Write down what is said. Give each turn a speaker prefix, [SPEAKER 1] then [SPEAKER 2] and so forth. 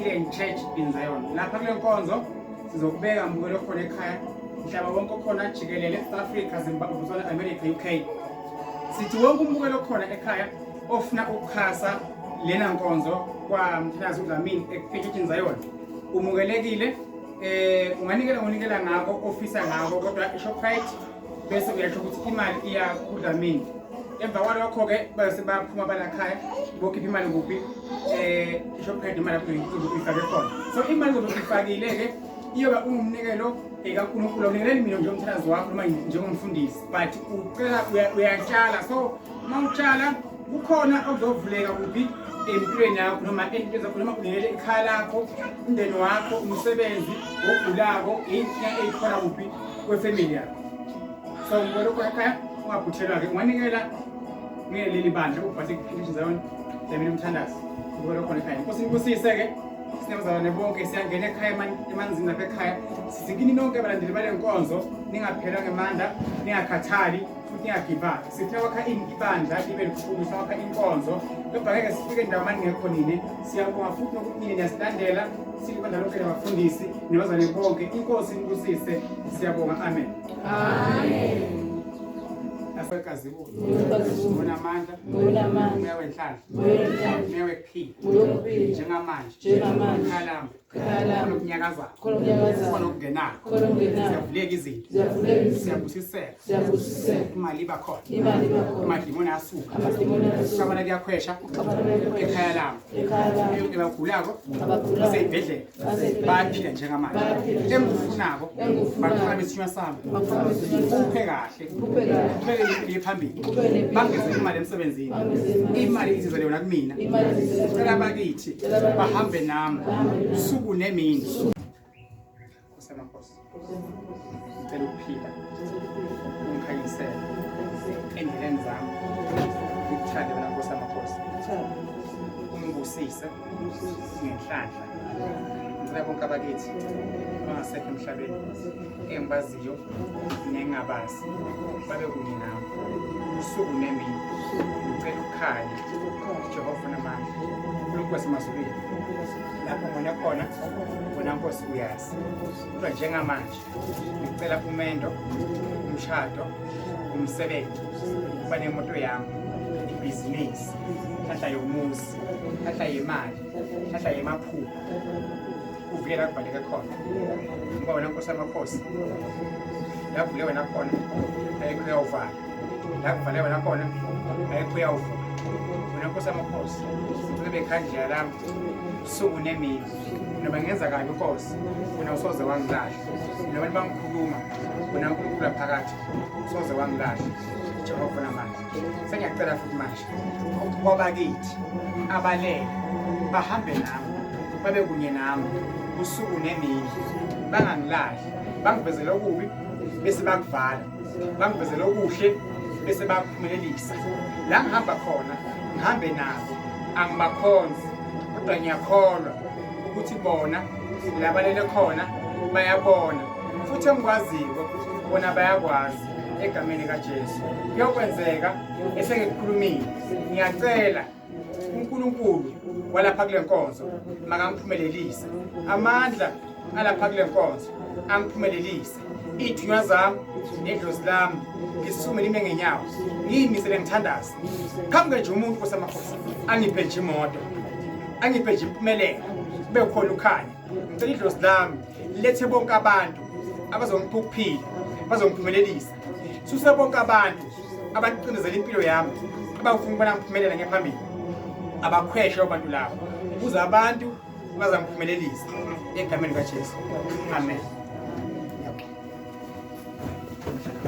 [SPEAKER 1] Healing Church in Zion. Lapha kule nkonzo sizokubeka mbukelo khona ekhaya mhlaba wonke okhona jikelele South Africa, Zimbabwe, Botswana, America, UK. Sithi wonke umbukelo khona ekhaya ofuna ukuxhasa lena nkonzo kwamthinazi udlamini ekuphetshethini zayona umukelekile eh unganikela ngonikela ngako ofisa ngako kodwa ishoprite bese uyasho ukuthi imali iya kudlamini emva kwalokho-ke bese baphuma balakhaya bokhipha imali kuphi um eh, ishoprite imali ifake khona so imali zobe ifakile-ke iyoba ungumnikelo eh, kankulunkulu awunikeleli mina njengomthandazi wakho noma njengomfundisi but ucela uyatshala so uma utshala kukhona okuzovuleka kuphi empilweni yakho noma entweni zakho noma kunikele ikhaya lakho umndeni wakho umsebenzi ogulako inkinga eyikhona kuphi kwefamily yakho so ngolokho ekhaya ungaphuthelwa-ke unganikela ngeleli bandla ubhase kuphindisha zayona lemini umthandazi ngolokhona ekhaya inkosi nikubusise-ke sinabazalwane bonke siyangena ekhaya emanzini lapha ekhaya sizikini nonke abalandeli bale nkonzo ningaphelwa ngemandla ningakhathali futhi ningagibali sifuna kwakha ibandla libe likhulu sifuna kwakha inkonzo kodwa ngeke sifike ndawo mani ngekho nini siyabonga futhi nokuthi nini niyasilandela silibandla lonke labafundisi nabazane bonke inkosi inibusise siyabonga amen
[SPEAKER 2] amen
[SPEAKER 1] asekazibuko ngibona amandla ngibona amandla umewe inhlanhla umewe kuphila njengamanje njengamanje khona okunyakazayo khona okungenayo ziyavuleka izinto ziyabusiseka imali iba khona amadimoni asuka ukabana kuyakhwesha ekhaya labo ebagulako baseyibhedlela bayaphila njengamanje engifunako baqala besinywa sami uphe kahle iye phambili bangeze imali emsebenzini imali izizele yona kumina cela bakithi bahambe nami usuku nemini kusemakhosi ngicela ukuphila ungikhanyisele endleleni zami ngikuthande wena nkosi amakhosi ungibusise ngenhlanhla ngicela bonke abakithi abangasekho emhlabeni engibaziyo nengingabazi babe kunye nami usuku nemini ngicela ukukhanya jehova namandla unkulunkulu wasemazulwini lapho ngone khona wena nkosi uyazi kodwa njengamanje ngicela umendo umshado umsebenzi uba nemoto yami ibhizinisi hlahla yomuzi hlahla yemali hlahla yemaphupho kuvikela kubhaleke khona ngoba wena nkosi amakhosi lakuvule wena khona ayikho uyawuvala lakuvale wena khona ayikho uyawuvula wena nkosi amakhosi cela bekhandlela lami suku nemini noma ngenza kabi inkosi wena usoze wangilahla noma libangikhuluma wena unkulunkulu aphakathi usoze wangilahla jehova namanje sengiyacela futhi manje kwabakithi abalele bahambe nami babe kunye nami usuku nemini bangangilahli bangivezele okubi bese bakuvala bangivezele okuhle bese bakuphumelelisa la ngihamba khona ngihambe nabo angibakhonzi kodwa ngiyakholwa ukuthi bona labalele khona bayabona futhi engikwaziyo bona bayakwazi egameni kaJesu kuyokwenzeka esengikukhulumile ngiyacela uNkulunkulu walapha kule nkonzo makamphumelelise amandla alapha kule nkonzo amphumelelise iy'thunywa zami nedlozi lami ngisukume nime ngenyawo ngiyimisele ngithandaze phambi kanje umuntu osamakhosi angiphe nje imoto angiphe nje impumelelo kube khona ukhanya ngicela idlozi lami lethe bonke abantu abazongipha ukuphila bazongiphumelelisa suse bonke abantu abaqindezela impilo yami abafuna ukubona ngiphumelela ngephambili abakhweshe abantu labo kuze abantu bazangiphumelelisa egameni kaJesu amen